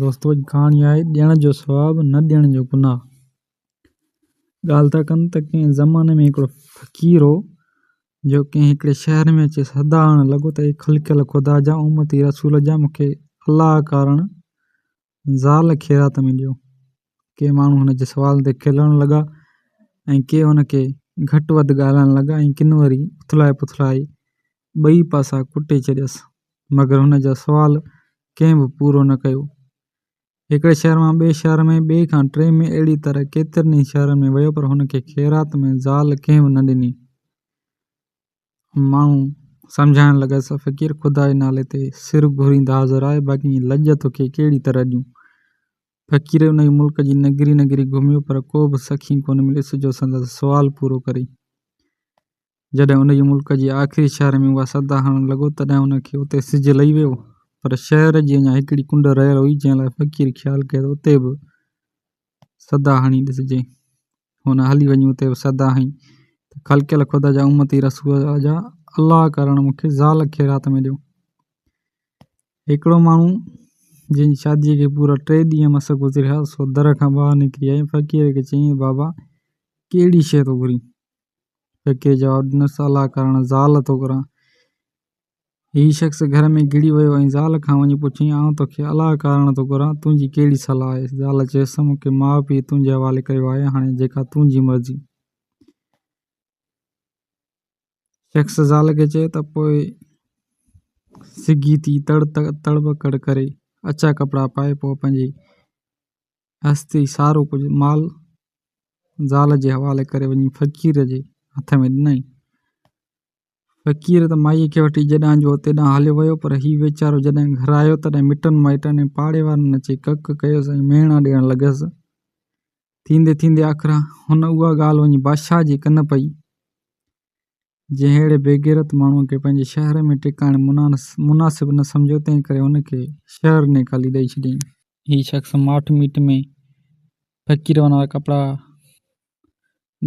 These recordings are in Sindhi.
دوستو اڄ ڪهاڻي آهي ڏيڻ جو ثواب نه ڏيڻ جو گناهه ڳالهه ٿا ڪن ته ڪنهن زماني ۾ هڪڙو فقير هو جو ڪنهن هڪڙي شهر ۾ اچي صدا هڻڻ لڳو ته اي خلقيل خدا جا امتي رسول جا مون کي الله ڪارڻ زال خيرات ۾ ڏيو ڪي ماڻهو هن جي سوال تي کلڻ لڳا ۽ ڪي هن کي گهٽ وڌ ڳالهائڻ لڳا ۽ ڪن وري اٿلائي پٿلائي ٻئي پاسا ڪٽي ڇڏيس مگر هن جا سوال ڪنهن به پورو نه ڪيو هڪڙي شهر مان ٻئي شهر ۾ ٻئي کان ٽئين ۾ اهڙي طرح ڪيترن ئي شهرن ۾ ويو پر هن کي خيرات ۾ زال ڪنهن به نه ڏني ماڻهو سمجهائڻ لڳس، فقير خدا جي نالي تي سر گهورين ته حاضر آهي، باقي ائين لڄ توکي ڪهڙي طرح ڏيون. فقير ان جي ملڪ جي نگري نگري گهميو پر ڪو به سخي ڪونه مليس جو سندس سوال پورو ڪري. جڏهن ان جي ملڪ جي آخري شهر ۾ اها صدا هڻڻ لڳو تڏهن ان کي اتي سج لهي ويو پر شهر جي اڃا هڪڙي ڪنڊ رهيل هئي جنهن لاء فقير خيال ڪيو ته اتي به صدا هڻي ڏسجي. هن هلي وڃي اتي سدا هنئي ته خلقيل خدا جا امتي رسول جا الله ڪرڻ مون کي زال خيرات ۾ ڏيو هڪڙو ماڻهو جنهن جي شاديء کي پورا ٽي ڏينهن مس گذريا سو در کان ٻاهر نڪري آئي فقير کي چيائين بابا ڪهڙي شيء ٿو گهرين فقير جواب ڏنس الله ڪرڻ زال ٿو گهران هي شخص گهر ۾ گهڙي ويو ۽ زال کان وڃي پڇيائين، آئون توکي الاء ڪارڻ ٿو گهران، تنهنجي ڪهڙي صلاح آهي؟ زال چيس، مون کي ماء پيء تنهنجي حوالي ڪيو آهي، هاڻي جيڪا تنهنجي مرضي. شخص زال کي چيو ته پوء سگهي ٿي تڙ تڙٻڪڙ ڪري، اڇا ڪپڙا پائي، پوء پنهنجي هستي سارو ڪجهه مال زال جي حوالي ڪري وڃي فقير جي هٿ ۾ ڏنائين. فقير ته مائيء کي وٺي جيڏانهن جو هو تيڏانهن هليو ويو، پر هي ويچارو جڏهن گهر آيو، تڏهن مٽن مائٽن ۽ پاڙي وارن اچي ڪڪ ڪيس ۽ مهڻا ڏيڻ لڳس. ٿيندي ٿيندي آخر هن اها ڳالهه وڃي بادشاهه جي ڪن پئي، جنهن اهڙي بيغيرت ماڻهوء کي پنهنجي شهر ۾ ٽڪاڻي مناسب نه سمجهيو، تنهن ڪري هن کي شهر نيڪالي ڏئي ڇڏيائين. هي شخص ماٺ ميٺ ۾ فقير وانارا ڪپڙا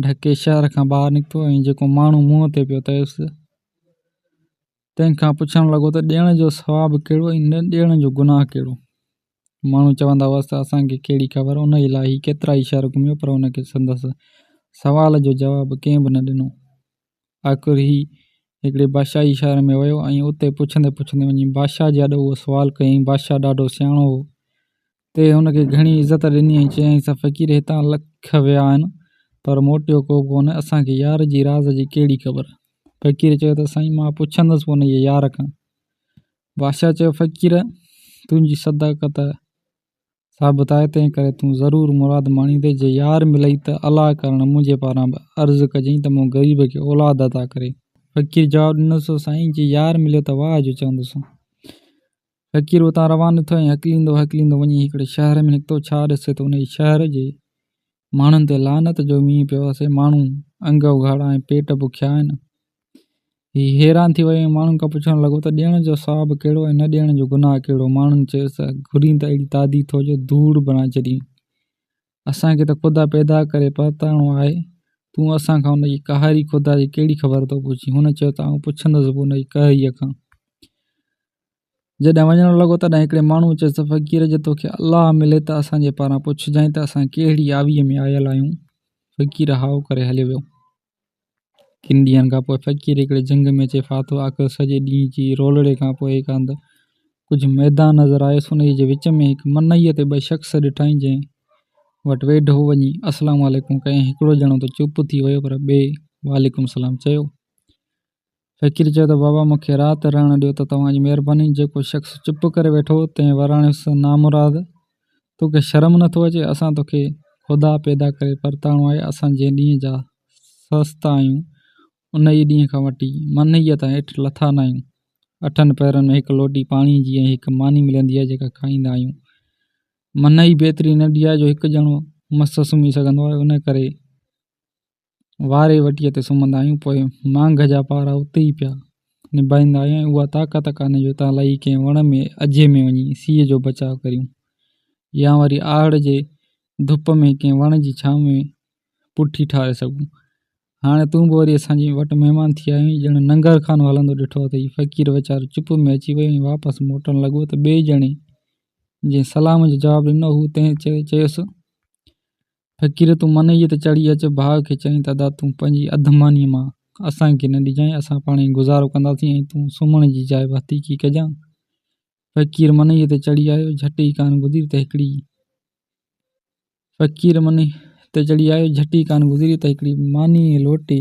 ڍڪي شهر کان ٻاهر نڪتو ۽ جيڪو ماڻهو منهن تي پيو تيس تنهن کان پڇڻ لڳو ته ڏيڻ جو ثواب ڪهڙو ۽ نه ڏيڻ جو گناهه ڪهڙو؟ ماڻهو چوندا هئس ته اسان کي ڪهڙي خبر، ان الاهي ڪيترائي شهر گهميو پر ان کي سندس سوال جو جواب ڪنهن به نه ڏنو. آخر هي هڪڙي بادشاهي شهر ۾ ويو ۽ اتي پڇندي پڇندي وڃي بادشاهه جي آڏو اهو سوال ڪيائين بادشاهه ڏاڍو سياڻو هو تي هن کي گهڻي عزت ڏني ۽ چيائينس ته فقير هتان لک ويا آهن پر موٽيو ڪو به ڪونه اسان کي يار جي راز جي ڪهڙي خبر فقير چيو ته سائين مان پڇندس به انهيء يار کان بادشاهه چيو فقير تنهنجي صداقت ثابت آهي، تنهن ڪري تون ضرور مراد ماڻيندين، جي يار ملئي ته الاء ڪرڻ منهنجي پاران به عرض ڪجئين ته مون غريب کي اولاد عطا ڪري. فقير جواب ڏنس، سائين جي يار مليو ته واهه جو چوندس. فقير اتان روانو ٿيو ۽ هڪليندو هڪليندو وڃي هڪڙي شهر ۾ نڪتو، ڇا ڏسي ته انهيء شهر جي ماڻهن تي لعنت جو مينهن پيو وسي. ماڻهو انگ اگهاڙا ۽ پيٽ بکيا آهن. هي حيران ٿي ويو ۽ ماڻهن کان پڇڻ لڳو ته ڏيڻ جو ثواب ڪهڙو ۽ نه ڏيڻ جو گناهه ڪهڙو؟ ماڻهن چيس ته گهرين ته اهڙي تادي ٿو جو ڌوڙ بڻائي ڇڏين. اسان کي ته خدا پيدا ڪري پرتاڻو آهي. تون اسان کان ان جي قهاري خدا جي ڪهڙي خبر ٿو پڇين؟ هن چيو ته آئون پڇندس به ان جي قهريء کان. جڏهن وڃڻ لڳو تڏهن هڪڙي ماڻهوء چيس ته فقير جي توکي الله ملي ته اسان جي پاران پڇجانء ته اسان ڪهڙي آويء ۾ آيل آهيون؟ فقير هائو ڪري هليو ويو. ڪن ڏينهن کان پوء فقير هڪڙي جهنگ ۾ اچي ڦاٿو. آخر سڄي ڏينهن جي رولڙي کان پوء هڪ هنڌ ڪجهه ميدان نظر آيس. انهيء جي وچ ۾ هڪ منئيء تي ٻه شخص ڏٺائين جنهن وٽ ويڍو وڃي السلام عليڪم ڪيائين. هڪڙو ڄڻو ته چپ ٿي ويو پر ٻئي وعليڪم السلام چيو. فقير چيو ته بابا مون کي رات رهڻ ڏيو ته توهان جي مهرباني جيڪو شخص چپ ڪري ويٺو تنهن وراڻيو سو نامراد تو کي شرم نه ٿو اچي اسان تو کي خدا پيدا ڪري پرتاڻو آهي اسان جنهن ڏينهن جا سست آهيون انهيء ڏينهن کان وٺي منهيء تائين اٺ لٿا نه آهيون اٺن پهرن ۾ هڪ لوٽي پاڻي جي ۽ هڪ ماني ملندي آهي جيڪا کائيندا آهيون منهي به ايتري ننڍي آهي جو هڪ ڄڻو مس سمهي سگهندو آهي انهيء ڪري واري وٽيء تي سمهندا آهيون، پوء مانگ جا پارا اتي ئي پيا نڀائيندا آهيون ۽ اها طاقت ڪانهي جو اتان لهي ڪنهن وڻ ۾ اجهي ۾ وڃي سيء جو بچاء ڪريون يا وري آهڙ جي ڌپ ۾ ڪنهن وڻ جي ڇانو ۾ پٺي ٺاهي سگهون. هاڻي تون به وري اسان جي وٽ مهمان ٿي آيو آهين. ڄڻ ننگر خان هلندو ڏٺو اٿئي. فقير ويچارو چپ ۾ اچي ويو ۽ واپس موٽڻ لڳو ته ٻئي ڄڻي جنهن سلام جو جواب ڏنو هو تنهن چيس، فقير تون منئيء تي چڙهي اچ ڀاء کي چئين ته ادا تون پنهنجي اڌ مانيء مان اسان کي نه ڏجانء اسان پاڻ ئي گذارو ڪنداسين ۽ تون سمهڻ جي جاء به حتيقي ڪجانء. فقير منئيء تي چڙهي آيو جهٽ ئي ڪانه گذري ته هڪڙي. فقير منئيء تي چڙهي آيو جهٽ ئي ڪانه گذري ته هڪڙي مانيء ۽ لوٽي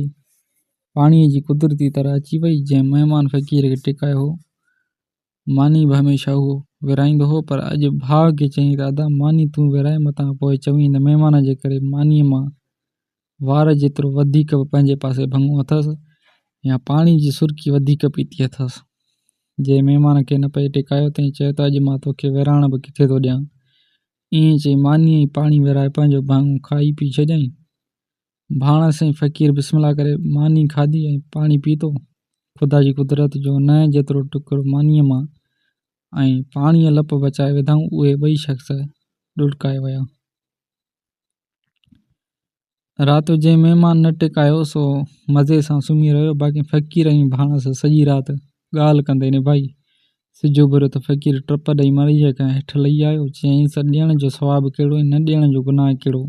پاڻيء جي قدرتي طرح اچي وئي جنهن مهمان فقير کي ٽڪايو هو ماني به هميشه اهو ورهائيندو هو، پر اڄ ڀاء کي چيائين ته ادا ماني تون ورهاء متان پوء چوين ته مهمان جي ڪري مانيء مان وار جيترو وڌيڪ به پنهنجي پاسي ڀڱو اٿس يا پاڻي جي سرڪي وڌيڪ پيتي اٿس. جنهن مهمان کي نه پئي ٽيڪايو تنهن چيو ته اڄ مان توکي ورهاڻ به ڪٿي ٿو ڏيان. ائين چئي مانيء ئي پاڻي ورهائي پنهنجو ڀاڱو کائي پي ڇڏيائين. ڀاڻ سين فقير بسم الله ڪري ماني کاڌي ۽ پاڻي پيتو. خدا جي قدرت جو نئن جيترو ٽڪر مانيء مان ۽ پاڻيء لپ بچائي وڌائون اهي ٻئي شخص ڏڙڪائي ويا. رات جو جنهن مهمان نه ٽڪايو سو مزي سان سمهي رهيو باقي فقير ۽ ڀاڻس سڄي رات ڳالهه ڪندي نڀائي. سج اڀريو ته فقير ٽپ ڏئي مڙيء کان هيٺ لهي آيو. چيائينس، ڏيڻ جو ثواب ڪهڙو ۽ نه ڏيڻ جو گناهه ڪهڙو؟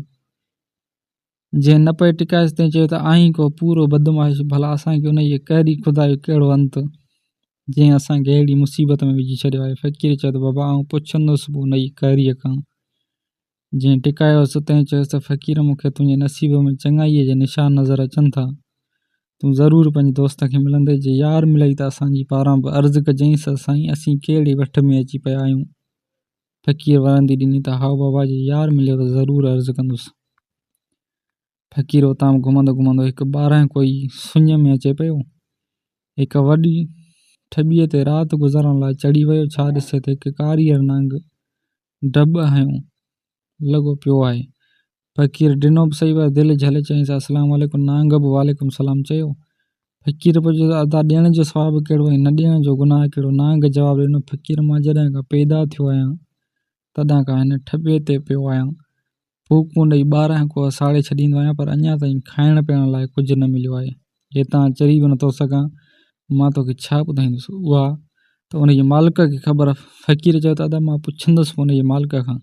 جنهن نه پئي ٽڪائيس تنهن چيو ته آهين ڪو پورو بدمعاش ڀلا اسان کي ان جي قهري خدا جو ڪهڙو انت جنهن اسان کي اهڙي مصيبت ۾ وجهي ڇڏيو آهي فقير چيو ته بابا آئون پڇندس به ان جي قهريء کان جنهن ٽڪايوس تنهن چيس ته فقير مون کي تنهنجي نصيب ۾ چڱائيء جا نشان نظر اچن ٿا تون ضرور پنهنجي دوست کي ملنديس جي يار ملئي ته اسان جي پاران به عرض ڪجئينس ته سائين اسين ڪهڙي وٺ ۾ اچي پيا آهيون فقير ورندي ڏني ته هائو بابا جي يار مليو ته ضرور عرض ڪندس. فقير اتان گهمندو گهمندو هڪ ٻارانهن ڪوئي سڃ ۾ اچي پيو. هڪ وڏي ٺٻيء تي رات گذارڻ لاء چڙهي ويو ڇا ڏسي ته هڪ ڪاريهر نانگ ڊٻ هنيو لڳو پيو آهي. فقير ڊنو به صحيح پر دل جهلي چيائينس السلام عليڪم نانگ به وعليڪم السلام چيو. فقير پڇيو ته ادا ڏيڻ جو ثواب ڪهڙو ۽ نه ڏيڻ جو گناهه ڪهڙو؟ نانگ جواب ڏنو فقير مان جڏهن کان پيدا ٿيو آهيان تڏهن کان هن ٺٻي تي پيو آهيان. ڦوڪون ڏئي ٻارهن ڪوهه ساڙي ڇڏيندو آهيان پر اڃا تائين کائڻ پيئڻ لاء ڪجهه نه مليو آهي. جي تان چري به نٿو سگهان، مان توکي ڇا ٻڌائيندس؟ اها ته ان جي مالڪ کي خبر آهي. فقير چيو ته ادا مان پڇندس به ان جي مالڪ کان.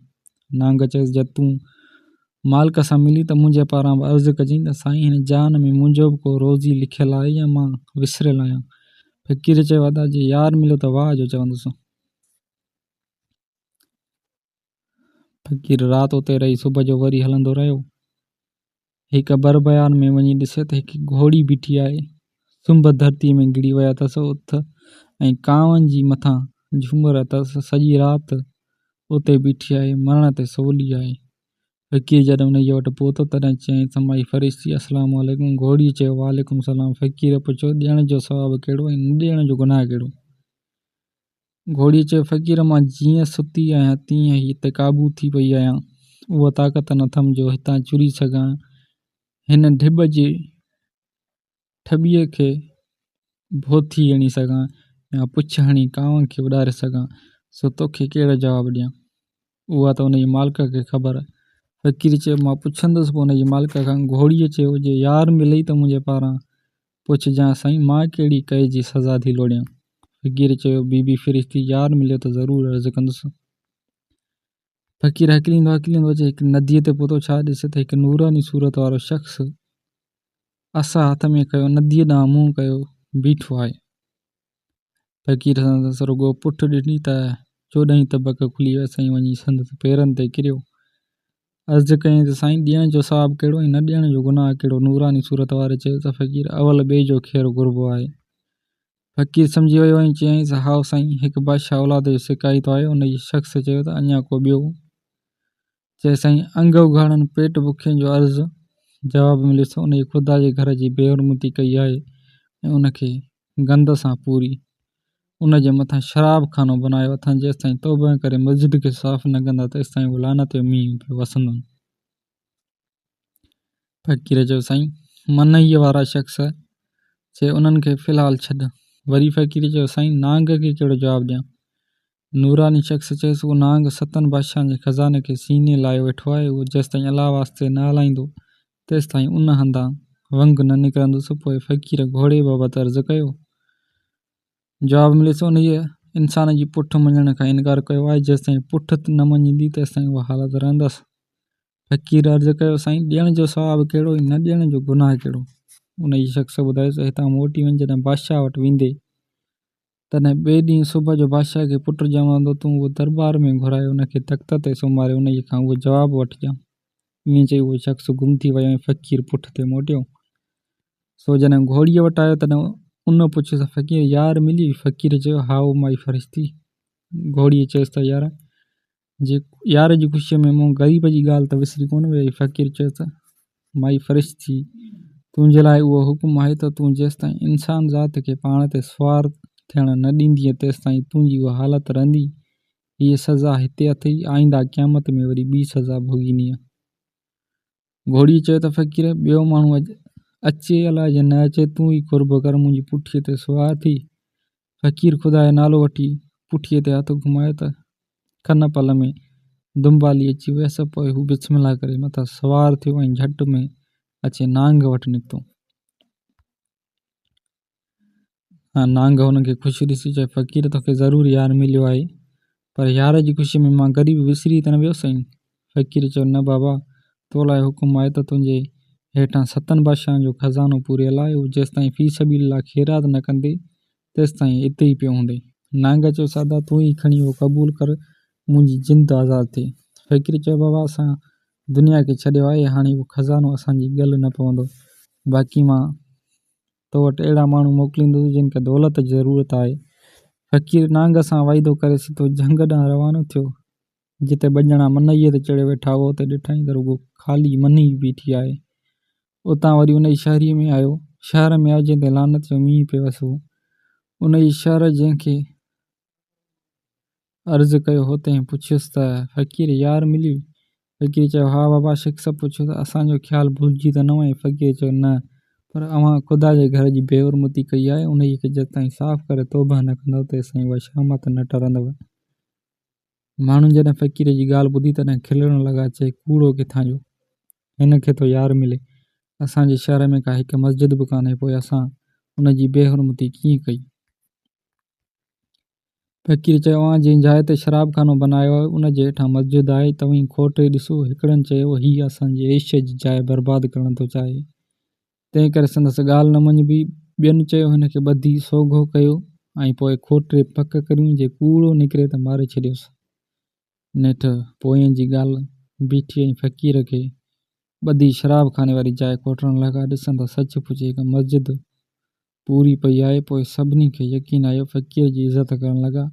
نانگ چيس جي تون مالڪ سان ملين ته منهنجي پاران به عرض ڪجين ته سائين هن جان ۾ منهنجو به ڪو روزي لکيل آهي يا مان وسريل آهيان. فقير چيو ادا جي يار مليو ته واهه جو چوندس. فقير رات اتي رهي صبح جو وري هلندو رهيو. هڪ بربيان ۾ وڃي ڏسي ته هڪ گهوڙي بيٺي آهي. سنڀ ڌرتيء ۾ گڙي ويا اٿس. اٿ ۽ ڪانئن جي مٿان جهومر اٿس. سڄي رات اتي بيٺي آهي. مرڻ تي سولي آهي. فقير جڏهن انهيء وٽ پهتو، تڏهن چيائينس، مائي فرشتي، السلام عليڪم! گهوڙيء چيو، وعليڪم السلام! فقير پڇيو، ڏيڻ جو ثواب ڪهڙو ۽ نه ڏيڻ جو گناهه ڪهڙو؟ گهوڙي چيو، فقير مان جيئن ستي آهيان تيئن ئي هتي قابو ٿي پئي آهيان. اها طاقت نه اٿم جو هتان چري سگهان. هن ڍٻ جي ٺٻيء کي ڀوٿي هڻي سگهان يا پڇ هڻي ڪانوء کي اڏاري سگهان. سو توکي ڪهڙو جواب ڏيان؟ اها ته ان جي مالڪ کي خبر. فقير چيو، مان پڇندس به ان جي مالڪ کان. گهوڙيء چيو، جي يار ملئي ته منهنجي پاران پڇجانء، سائين مان ڪهڙي ڪئي جي سزا ٿي لوڙيان؟ فقير چيو، بي بي فرشتي، يار مليو ته ضرور عرض ڪندس. فقير هڪليندو هڪليندو اچي هڪ نديء تي پهتو، ڇا ڏسي ته هڪ نوراني صورت وارو شخص عصا هٿ ۾ کنيو، نديء ڏانهن منهن ڪيو بيٺو آهي. فقير سندس رڳو پٺ ڏٺي ته چوڏهن ئي طبق کلي ويس ۽ وڃي سندس پيرن تي ڪريو. عرض ڪيائين ته سائين ڏيڻ جو ثواب ڪهڙو ۽ نه ڏيڻ جو گناهه ڪهڙو؟ نوراني صورت واري چيو ته فقير اول ٻئي جو خير گهربو آهي. فقير سمجهي ويو ۽ چيائينس هائو سائين هڪ بادشاهه اولاد جو سڪائي ٿو آيو ان جي شخص چيو ته اڃا ڪو ٻيو چيو سائين انگ اگهاڙن پيٽ بکين جو عرض جواب مليس ته انهي خدا جي گهر جي بي حرمتي ڪئي آهي ۽ ان کي گند سان پوري ان جي مٿان شراب خانو بنايو اٿن جيستائين توبه ڪري مسجد کي صاف نه ڪندا تيستائين اهو لعنت جو مينهن پيو وسندن فقير چيو سائين منئيء وارا شخص چي انهن کي في الحال ڇڏ وري فقير چيو سائين نانگ کي ڪهڙو جواب ڏيان نوراني شخص چيس، اهو نانگ ستن بادشاهن جي خزاني کي سيني لايو ويٺو آهي، اهو جيستائين الله واسطي نه هلائيندو، تيستائين ان هنڌان ونگ نه نڪرندس. پوء فقير گهوڙي بابت عرض ڪيو. جواب مليس، انهيء انسان جي پٺ مڃڻ کان انڪار ڪيو آهي، جيستائين پٺ نه مڃيندي، تيستائين اها حالت رهندس. فقير عرض ڪيو، سائين! ڏيڻ جو ثواب ڪهڙو ۽ نه ڏيڻ جو گناهه ڪهڙو؟ انهيء شخص ٻڌايس، هتان موٽي وڃ، جڏهن بادشاهه وٽ ويندين، تڏهن ٻئي ڏينهن صبح جو بادشاهه کي پٽ ڄماء ڏنو، تون اهو درٻار ۾ گهرائي ان کي تخت تي سمهاري انهيء کان اهو جواب وٺجان. ائين چئي اهو شخص گم ٿي ويو ۽ فقير پٺ تي موٽيو. سو جڏهن گهوڙيء وٽ آيو تڏهن ان پڇيس ته فقير يار مليئي؟ فقير چيو، هائو مائي فرشتي! گهوڙيء چيس ته يار! جي يار جي خوشيء ۾ مون غريب جي ڳالهه ته وسري ڪونه ويئي. فقير چيو ته، مائي فرشت ٿي، تنهنجي لاء اهو حڪم آهي ته تون جيستائين انسان ذات کي پاڻ تي سوار ٿيڻ نه ڏيندينء تيستائين تنهنجي اها حالت رهندي. هيء سزا هتي اٿئي، آئينده قيامت ۾ وري ٻي سزا ڀوڳيندينء. گهوڙيء چيو ته فقير، ٻيو ماڻهو اچي الاء جي نه اچي، تون ئي قرب ڪر، منهنجي پٺيء تي سوار ٿي. فقير خدا جو نالو وٺي، پٺيء تي هٿ گهمايو ته ڪن پل ۾ دنبالي اچي ويس. پوء هو بسم الله ڪري مٿس سوار ٿيو ۽ جهٽ ۾ اچي نانگ وٽ نڪتو. نانگ هن کي خوش ڏسي چيو، فقير توکي ضرور يار مليو آهي، پر يار جي خوشيء ۾ مان غريب وسري ته نه ويو سائين؟ فقير چيو، نه بابا، تو لاء حڪم آهي ته تنهنجي هيٺان ستن بادشاهن جو خزانو پوريل آهي، هو جيستائين في سبيل الله خيرات نه ڪندي، تيستائين اتي ئي پيو هوندين. نانگ چيو، سادا تون ئي کڻي اهو قبول ڪر، منهنجي جند آزاد ٿئي. فقير چيو، بابا اسان دنيا کي ڇڏيو آهي، هاڻي اهو خزانو اسان جي ڳل نه پوندو، باقي مان تو وٽ اهڙا ماڻهو موڪليندس جن کي دولت جي ضرورت آهي. فقير نانگ سان وعدو ڪري سڌو جهنگ ڏانهن روانو ٿيو. جتي ٻه ڄڻا منئيء تي چڙهي ويٺا هئا، اتي ڏٺائين ته رڳو خالي منئي ئي بيٺي آهي. اتان وري ان جي شهريء ۾ آيو. شهر ۾ آيو جنهن تي لعنت جو مينهن پيوس هو. ان جي شهر جنهن کي عرض ڪيو هو، تنهن پڇيس ته، فقير يار ملي؟ فقير چيو، ها بابا شخص پڇيو ته اسان جو خيال ڀلجي ته نه وئين؟ فقير چيو، نه، پر اوهان خدا جي گهر جي بي حرمتي ڪئي آهي، انهيء کي جيستائين صاف ڪري توبهه نه ڪندؤ، تيستائين اها شهامت نه ٽرندؤ. ماڻهن جڏهن فقير جي ڳالهه ٻڌي تڏهن کلڻ لڳا چئي ڪوڙو ڪٿان جو هن کي ٿو يار ملي. اسان جي شهر ۾ ڪا هڪ مسجد به ڪانهي پوء اسان ان جي بي حرمتي ڪيئن ڪئي. فقير چيو اوهان جنهن جاء تي شراب خانو بنايو آهي ان جي هيٺان مسجد آهي توهين کوٽي ڏسو. هڪڙن چيو هي اسان جي عيش جي جاء برباد ڪرڻ ٿو چاهي. تنهن ڪري سندس ڳالهه نه مڃبي. ٻين چيو هن کي ٻڌي سوگهو ڪيو ۽ پوء کوٽري پڪ ڪريون جي ڪوڙو نڪري ته ماري ڇڏيوس. نيٺ پوئين جي ڳالهه بيٺي ۽ فقير کي ٻڌي شراب خاني واري جاء کوٽڻ لڳا. ڏسن ته سچ پچ هڪ مسجد پوري پئي آئي، پوء سڀني کي يقين آيو، فقير جي عزت ڪرڻ لڳا.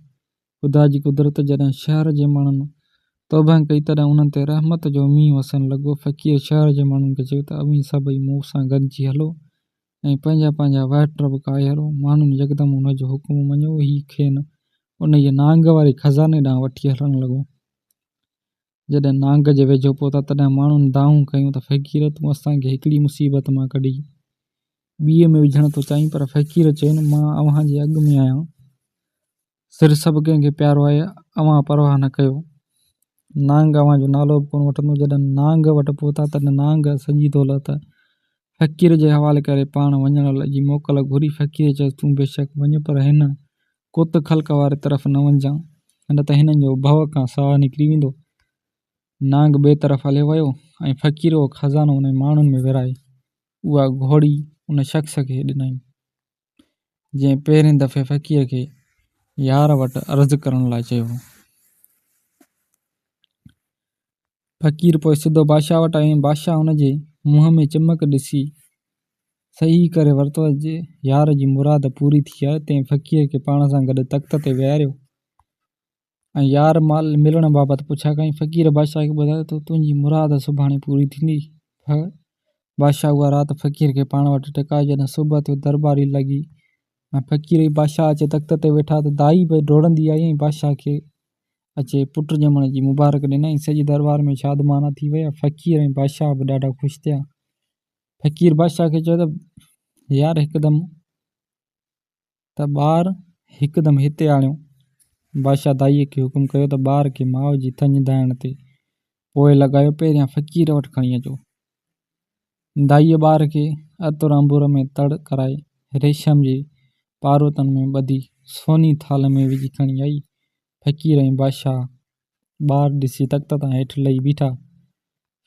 خدا جي قدرت جڏهن شهر جي ماڻهن توبه ڪئي، تڏهن انهن تي رحمت جو مينهن وسڻ لڳو. فقير شهر جي ماڻهن کي چيو ته اوهين سڀئي مون سان گڏجي هلو ۽ پنهنجا پنهنجا وهٽر به ڪاهيرو. ماڻهن يڪدم ان جو حڪم مڃيو. هي کين انهيء نانگ واري خزاني ڏانهن وٺي هلڻ لڳو. جڏهن نانگ جي ويجهو پهتا تڏهن ماڻهن دانهون ڪيون ته فقير تون اسان کي هڪڙي مصيبت مان ڪڍي ٻيء ۾ وجهڻ ٿو چاهين پر فقير چين مان اوهان جي اڳ ۾ آهيان سر سڀ ڪنهن کي پيارو آهي اوهان پرواهه نه ڪيو نانگ اوهان جو نالو به ڪونه وٺندو جڏهن نانگ وٽ پهتا تڏهن نانگ سڄي دولت فقير جي حوالي ڪري پاڻ وڃڻ جي موڪل گهري، فقير چيس، تون بيشڪ وڃ پر هن ڪوتڪ خلق واري طرف نه وڃجان، نه ته هنن جو ڀؤ کان ساهه نڪري ويندو. نانگ ٻئي طرف هليو ويو ۽ فقير اهو خزانو انهن ماڻهن ۾ ورهائي، اها گهوڙي ان شخص کي ڏنائين. جنهن پهرين دفعي فقير کي يار وٽ عرض ڪرڻ لاء چيو هو. فقير پوء سڌو بادشاهه وٽ آيو ۽ بادشاهه هن جي منهن ۾ چمڪ ڏسي صحيح ڪري ورتو ته يار جي مراد پوري ٿي آهي. تنهن فقير کي پاڻ سان گڏ تخت تي ويهاريو ۽ يار مال ملڻ بابت پڇا ڪئي. فقير بادشاهه کي ٻڌايو ته تنهنجي مراد سڀاڻي پوري ٿيندي. ڦ. بادشاهه اها رات فقير کي پاڻ وٽ ٽڪايو. جڏهن صبح ٿيو درٻاري لڳي ۽ فقير ۽ بادشاهه اچي تخت تي ويٺا ته دائي به ڊوڙندي آئي ۽ بادشاهه کي اچي پٽ ڄمڻ جي مبارڪ ڏنائين. سڄي درٻار ۾ شادمانا ٿي وئي. فقير ۽ بادشاهه به ڏاڍا خوش ٿيا. فقير بادشاهه کي چيو ته يار هڪدم ته ٻار هڪدم هتي آڻيو. بادشاهه دائيء کي حڪم ڪيو ته ٻار کي ماء جي ٿڃڌائڻ تي پوء لڳايو، پهريان فقير وٽ کڻي اچو. دائيء ٻار کي عطر عنبر ۾ تڙ ڪرائي، ريشم جي پاروتن ۾ ٻڌي، سوني ٿال ۾ وجهي کڻي آئي. فقير ۽ بادشاهه ٻار ڏسي تخت تان هيٺ لهي بيٺا.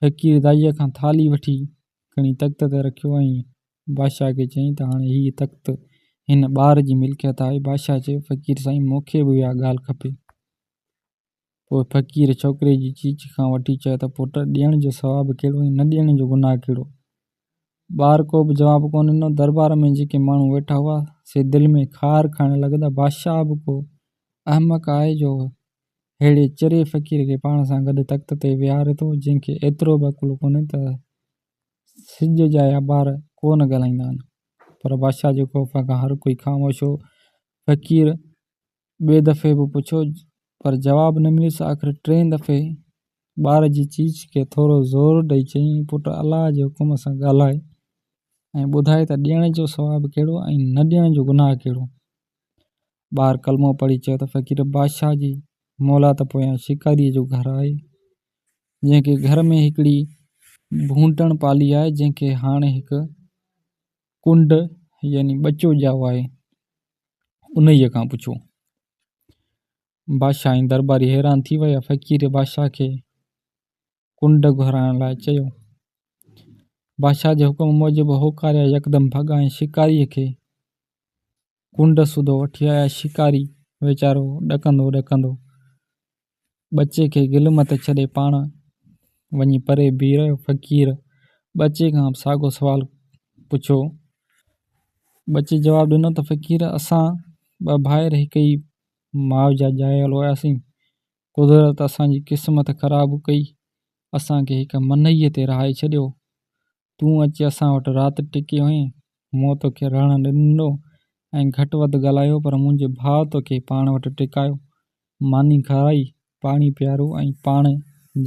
فقير دائيء کان ٿالهي وٺي کڻي تخت تي رکيو ۽ بادشاهه کي چيائين ته هاڻي هيء تخت هن ٻار جي ملڪيت آهي. بادشاهه چيو، فقير سائين، مون کي به اها ڳالهه کپي. پوء فقير ڇوڪري جي چيچي کان وٺي چيو ته پٽ، ڏيڻ جو ثواب ڪهڙو ۽ نه ڏيڻ جو گناهه ڪهڙو؟ ٻار ڪو به جواب ڪونه ڏنو. درٻار ۾ جيڪي ماڻهو ويٺا هئا، سي دل ۾ خار کائڻ لڳا ته بادشاهه به ڪو احمق آهي جو ههڙي چري فقير کي پاڻ سان گڏ تخت تي ويهاري ٿو، جنهن کي ايترو به عقل ڪونهي ته سج جا يابار ڪو نه ڳالهائيندا آهن، پر بادشاهه جي خوف کان هر ڪوئي خاموش هو. فقير ٻئي دفعي به پڇيو، پر جواب نه مليس. آخر ٽئين دفعي ٻار جي چيچ کي ٿورو زور ڏئي چيائين، پٽ الله جي حڪم سان ڳالهاء ۽ ٻڌاء ته ڏيڻ جو ثواب ڪهڙو ۽ نه ڏيڻ جو گناهه ڪهڙو؟ ٻار ڪلمو پڙهي چيو ته فقير بادشاهه جي مولات پويان شڪاريء جو گهر آهي، جنهن کي گهر ۾ هڪڙي ڀونٽڻ پالي آهي جنهن کي هاڻي هڪ ڪنڊ يعني ٻچو ڄائو آهي انهيء کان پڇو. بادشاهه ۽ درٻاري حيران ٿي ويا. فقير بادشاهه کي ڪنڊ گهرائڻ لاء چيو. بادشاهه جي حڪم موجب هو ڪاريا يڪدم ڀڳا ۽ شڪاريء کي ڪنڊ سوڌو وٺي آيا شڪاري ويچارو ڏڪندو ڏڪندو ٻچي کي گل مٿي ڇڏي پاڻ وڃي پري بيهي رهيو فقير ٻچي کان به ساڳو سوال پڇيو ٻچي جواب ڏنو ته فقير اسان ٻه ڀائر هڪ ئي ماء جا ڄايل هياسين قدرت اسان جي قسمت خراب ڪئي اسان کي هڪ منئيء تي رهائي ڇڏيو تون اچي اسان وٽ رات ٽڪي هئين، مون توکي رهڻ نه ڏنو ۽ گهٽ وڌ ڳالهايو پر منهنجي ڀاء توکي پاڻ وٽ ٽڪايو، ماني کارائي، پاڻي پيارو ۽ پاڻ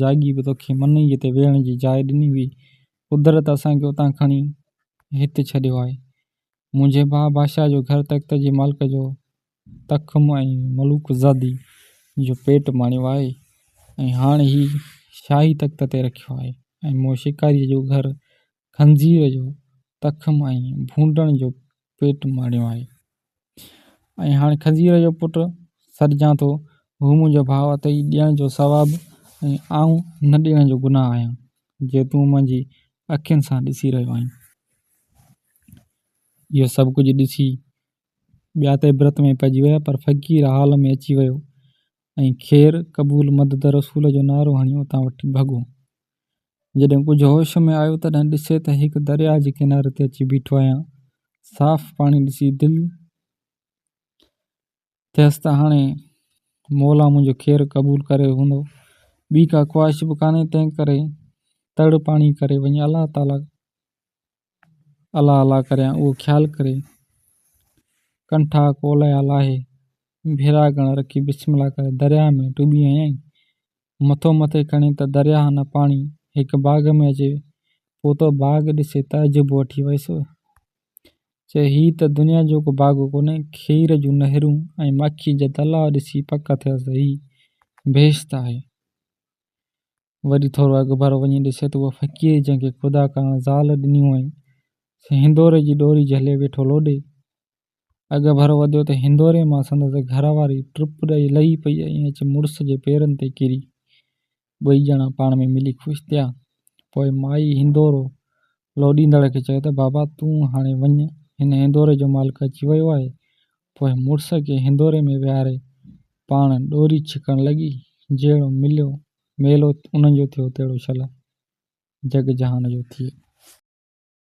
جاڳي به توکي منئيء تي ويهڻ جي جاء ڏني هئي، قدرت اسان کي اتان کڻي هت ڇڏيو آهي. منهنجي ڀاء بادشاهه جو گهر تخت جي مالڪ جو تخم ۽ ملوڪ زادي جو پيٽ ماڻيو آهي ۽ هاڻ هي شاهي تخت تي رکيو آهي ۽ مون شڪاريء جو گهر خنزير جو تخم ۽ ڀونڊڻ جو پيٽ ماڻيو آهي ۽ هاڻ خنزير جو پٽ سڏجان ٿو هو منهنجو ڀاء اٿئي ڏيڻ جو ثواب ۽ آئون نه ڏيڻ جو گناهه آهيان جي تون منهنجي اکين سان ڏسي رهيو آهين اهو سڀ ڪجهه ڏسي ٻيا ته عبرت ۾ پئجي ويا پر فقير حال ۾ اچي ويو ۽ خير قبول مدد رسول جو نعرو هڻي اتان وٺي ڀڳو. جڏهن ڪجهه هوش ۾ آيو تڏهن ڏسي ته هڪ درياء جي ڪناري تي اچي بيٺو آهيان. صاف پاڻي ڏسي دل ٿيس ته هاڻي مولا منهنجو خير قبول ڪري هوندو. ٻي ڪا خواهش به ڪانهي تنهنڪري تڙ پاڻي ڪري وڃي الله تعاليٰ الا الا ڪريان اهو خيال ڪري ڪنٺا ڪولهيا لاهي ڀيرا گڻ رکي بسم الله ڪري درياهه ۾ ٽٻي هنيائين. مٿو مٿي کڻي ته درياهه نه پاڻي هڪ باغ ۾ اچي پهتو باغ ڏسي تعجب وٺي ويس. چي هي ته دنيا جو ڪو باغ ڪونهي کير جون نهرون ۽ ماکيء جا تلاء ڏسي پڪ ٿيس ته هي بهشت آهي. وري ٿورو اڳڀرو وڃي ڏسي ته اها فقير جنهن کي خدا ڪرڻ زال ڏني هئائين، سي هندوري جي ڏوري جهلي ويٺو لوڏي. اڳڀرو وڌيو ته هندوري مان سندس گهر واري ٽپ ڏئي لهي پئي ۽ اچي مڙس جي پيرن تي ڪري. ٻئي ڄڻا پاڻ ۾ ملي خوش ٿيا. پوء مائي هندورو لوڏيندڙ کي چيو ته بابا تون هاڻي وڃ، هن هندوري جو مالڪ اچي ويو آهي، پوء مڙس کي هندوري ۾ ويهاري پاڻ ڏوري ڇڪڻ لڳي. جهڙو مليو ميلو انهن جو ٿيو تهڙو شل جڳ جهان جو ٿئي.